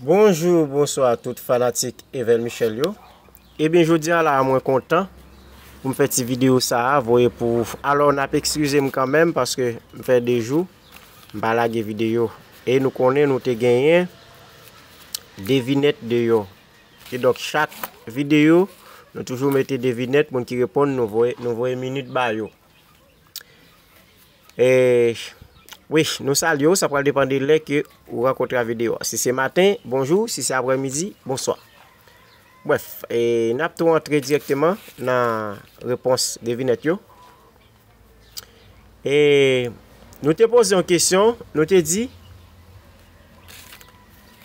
Bonjou bonswa tout fanatik Evel Michel yo Ebyen jodia la mwen kontan poum fè ti video sa a voye pou ou Alò nap ekskizem kanmenm paske m fè 2 jou m pa lage video E nou konnen nou te genyen devinèt deyò Kidonk chak video nou toujou mete devinèt moun ki reponn nou voye minit ba yo Eh wi nou salye w sa pral depan de lè ke ou rankontre a video a. Si se maten, bonjou, si se aprè midi, bonswa. Brèf, e n ap tou antre direkteman nan repons devinèt yo. E nou te poze yon kesyon, nou te di,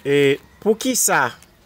e pou ki sa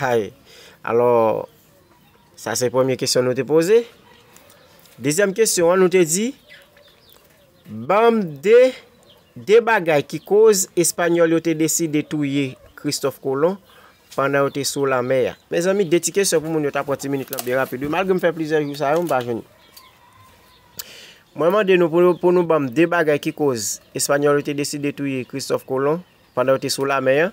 Hay! Alò, sa se premye kesyon nou te poze. Dezyèm kesyon an nou te di, banm 2, 2 bagay ki koz Espanyòl yo te deside touye Kristòf Kolon pandan yo te sou lanmè a. Mezanmi, 2 ti kesyon pou moun yo ta pran ti minit lan byen rapid wi, malgre m fè plizyè jou sa yo m pa jwenn. Mwen mande nou pou nou banm 2 bagay ki koz Espanyòl yo te deside touye Kristòf Kolon pandan yo te sou lanmè a.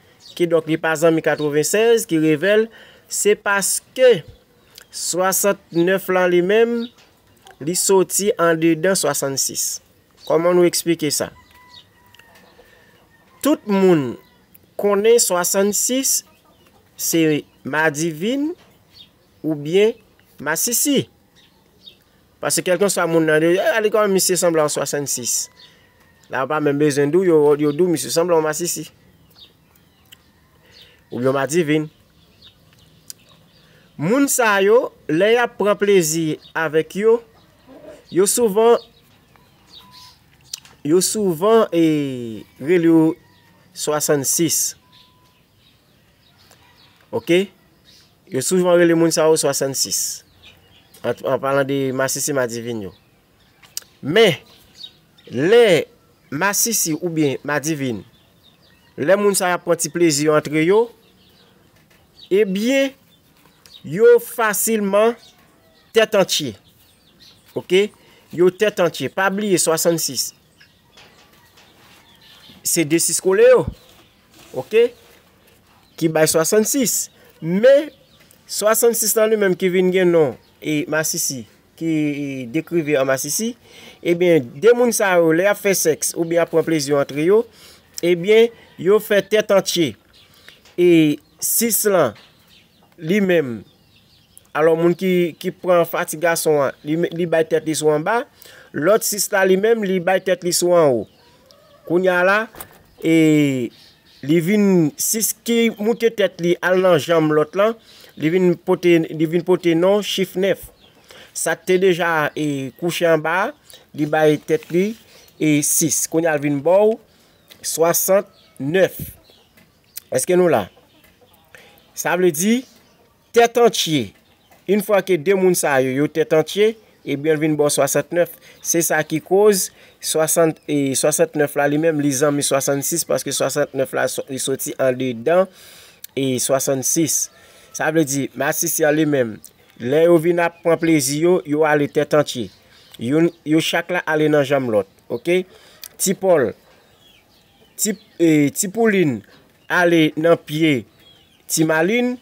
Kidonk li pa zanmi 96 ki revel se paske 69 lan li menm li soti andedan 66. Koman nou eksplike sa? Tout moun konnen 66 se madivin oubyen masisi. Pase kelkanswa moun nan yo, yo ale kòman misye sanble an 66. La yo pa menm bezwen di w, yo di w misye sanble an masisi. Oubyen an madivin. Moun sa yo, lè y ap pran plezi avèk yo, yo souvan, yo souvan e rele yo 66. Ok, yo soujman rele moun sa yo 66, an palan de masisi madivin yo. Men, lè masisi ou byen madivin, lè moun sa yo ap pran ti plezi yo antre yo, e byen, yo fasilman tèt antye. Ok, yo tèt antye. Pa bliye 66, Se 2 6 kole yo. Ok. Ki bay 66. Men, 66 lan li menm ki vin gen non e masisi. Ki dekrive an masisi. Ebyen, de moun sa yo, le ap fe seks ou byen ap pran plezi antre yo. Ebyen, yo fe tet antye. E 6 lan, li menm. Alò moun ki pran fati gason an, li bay tèt li sou anba, lòt 6 la li menm li bay tèt li sou anwo. Kounya la, e li vin 6 ki moute tèt li al nan janm lòt lan, li vin pote li vin pote non chif 9. Sak te deja e kouche anba a, li bay tèt li e 6. Kounya l vin baw 69. Eske nou la? Sa vle di Tèt antye, Yn fwa ke 2 moun sa yo, yo tèt antye, ebyenl vin baw 69, se sa ki koz 60 e 69 la li menm li zanmi 66 paske 69 la li soti andedan e 66. Sa vle di masisi an li menm, lè yo vin ap pran plezi yo, yo ale tèt antye. Youn, yo chak la ale nan janm lòt. Ok? Ti Pòl. Ti poulin ale nan pye ti malin,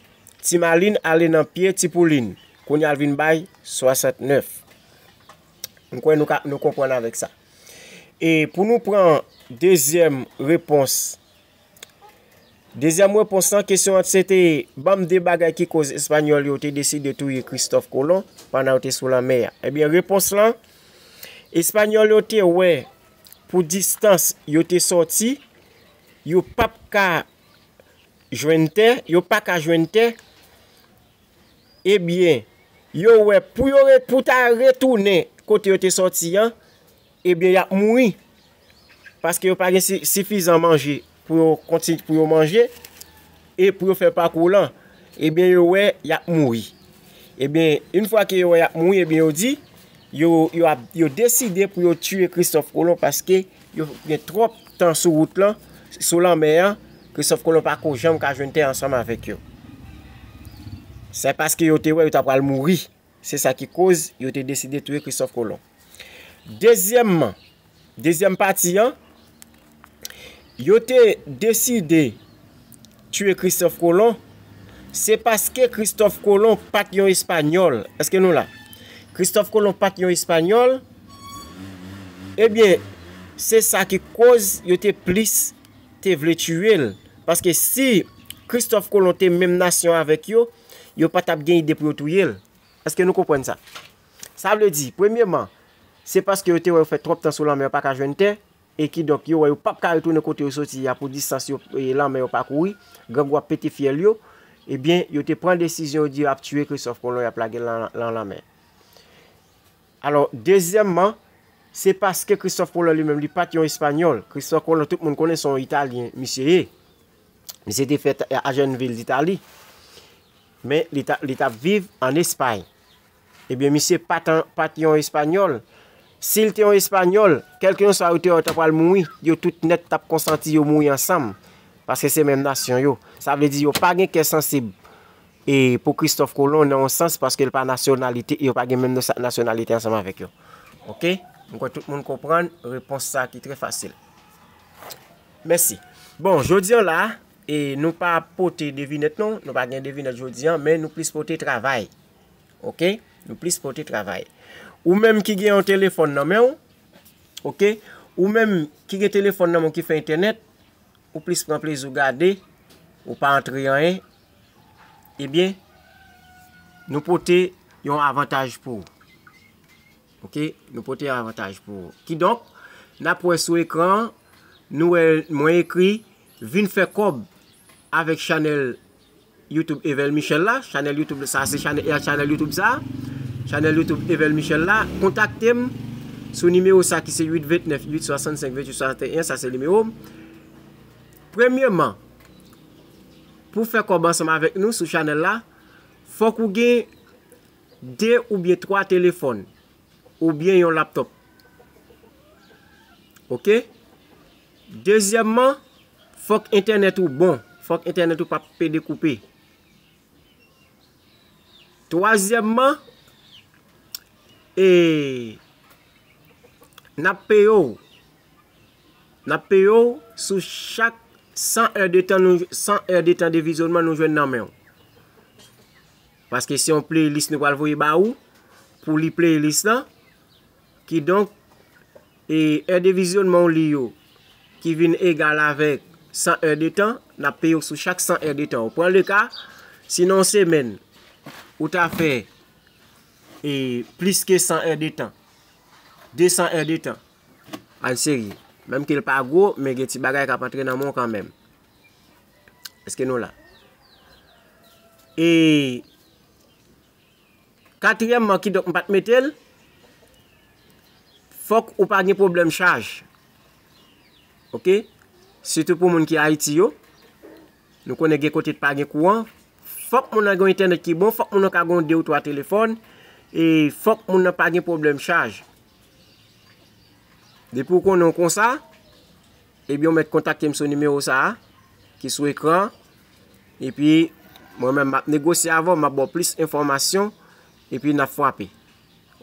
ti malin ale nan pye ti poulin. Kounye al vin bay 69. Mwen kwen nou konpwen avèk sa. E pou nou pran dezyèm repons. Dezyèm repons nan kesyon an se te banm de bagay ki koz espanyòl yo te desi de touye Christophe Colomb pandan yo te sou lanmè a. Ebyen eh repons lan, espanyòl yo te wè Pou distans yo te sòti, yo p ap ka jwenn tè, yo pa ka jwenn tè, ebyen, yo wè pou yo pou ta retounen kote yo te sòti an, ebyen y ap mouri, paske yo pa gen sifizan manje. pou yo konti pou yo manje e pou yo fè pakou lan ebyen yo wè yap mouri ebyen yn fwa ke yo wè yap mouri ebyen yo di yo yo ap yo deside pou yo tiye kristòf kolon paske yo gen tròp tan sou wout lan sou lanmè an kristòf kolon pa ko janm ka jwenn tè ansanm avèk yo se paske yo te wè yo ta pral mouri Se sa ki koz yo te deside touye Kristòf Kolon. Dezyèmman, dezyèm pati an, yo te deside touye Kristòf Kolon, se paske Kristòf Kolon pa t yon Espanyòl. Eske nou la? Kristòf Kolon pa t yon Espanyòl, ebyen, se sa ki koz yo te plis te vle touye l. Paske si Kristòf Kolon te menm nasyon avèk yo, yo pa t ap gen ide pou yo touye l. Èske nou konprann sa? Sa vle di, premyeman, se paske yo te wè yo fè twòp tan sou lanmè yo pa ka jwenn tè, e kidonk yo wè yo pap ka retounen kote yo soti a pou distans yo lanmè yo pakouri, grangou ap pete fyèl yo, ebyen, yo te pran desizyon yo di yo ap tiye Kristòf Kolon y ap lage l lan lanmè. Alò, dezyèmman, se paske Kristòf Kolon li menm li pa t yon Espanyòl, Kristòf Kolon tout moun konnen se yon Italyen misye ye. Misye te fèt a Jènvil d'Itali, men li ta, li tap viv an Espay. Ebyen misye pat an, pat yon Espanyòl. Si l te yon Espanyòl, kèlkeyonswa yo te wè yo ta pral mouri, yo tout nèt tap konsanti yo mouri ansanm. Paske se menm nasyon yo. Sa vle di yo pa gen kè sansib e pou Kristòf Kolon nan yon sans paske l pa nasyonalite, yo pa gen menm nasyonalite ansanm avèk yo. Ok? M kwè tout moun konprann repons sa ki trè fasil. Mèsi. Bon, jodi an la, e nou pa pote devinèt non, nou pa gen devinèt jodi an, men nou plis pote travay. Ok? Nou plis pote travay. Ou menm ki gen yon telefòn nan men ou, ok? Ou menm ki gen telefòn nan men ou ki fè entènèt, ou plis pran plezi ou gade, ou pa antre anyen, ebyen, nou pote yon avantaj pou ou. Ok nou pote avantaj pou ou. Kidonk nap wè sou ekran an nou wè mwen ekri vin fè kòb avèk chanèl YouTube Evel Michel la, chanèl YouTube sa se chanèl YouTube sa, chanèl YouTube Evel Michel la, kontaktem sou nimewo sa ki se 829 865 2861 sa se nimewo m. Premyeman pou fè kòb ansanm avèk nou sou chanèl la fòk ou gen. 2 oubyen 3 telefòn oubyen yon laptòp ok dezyèmman fòk entènèt ou bon fòk entènèt ou pa pede koupe twazyèmman ee nap peye w nap peye w sou chak 100 è de tan san è de tan de vizyonman nou jwenn nan men w. Paske se yon playlist nou pral voye ba ou pou li playlist lan. Kidonk, e è de vizyonman ou li yo ki vin egal avèk 100 è de tan, n ap peye ou sou chak 100 è de tan ou. Pran le ka, si nan yon semèn ou ta fè e plis ke 100 è de tan, 200 è de tan, an serye, menm ke l pa gwo, men gen ti bagay k ap antre nan men w kanmenm. Eske nou la? E katriyèmman ki donk m pa t mete l, fòk ou pa gen pwoblèm chaj. Ok? Sitou pou moun ki Ayiti yo, nou konnen gen kote ki pa gen kouran, fòk moun nan gen yon entènèt ki bon, fòk moun nan ka gen yon de ou twa telefòn, e fòk moun nan pa gen pwoblèm chaj. Depi ou konnen w konsa. Ebyen ou mèt kontakte m sou nimewo sa a ki sou ekran an. Epi mwen menm m ap negosye avè w, m ap ba w plis enfòmasyon. Epi n ap fwape.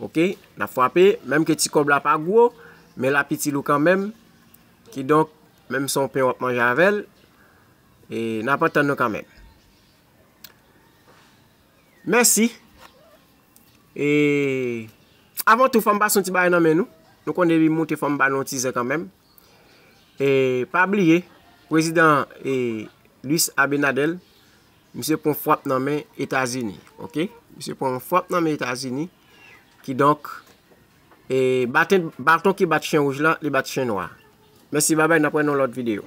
Ok? N ap fwape. Menm ke ti kòb la pa gwo, men l ap itil ou kanmenm. Kidonk, menm se yon pen w ap manje avè l, e n ap antann nou kanmenm. Mèsi. E, avan tou fò m pase yon ti bagay nan men nou. Nou konnen depi m moute fò m ba nou yon ti zen kanmenm. E pa bliye, Prezidan Luis Abinader, misye pran fwap nan men Etazini. Ok? Misye pran fwap nan men Etazini. Ki donk, e baton ki bat chen wouj la, li bat chen nwa. Mèsi babay, nan pwen nan lòt videyo.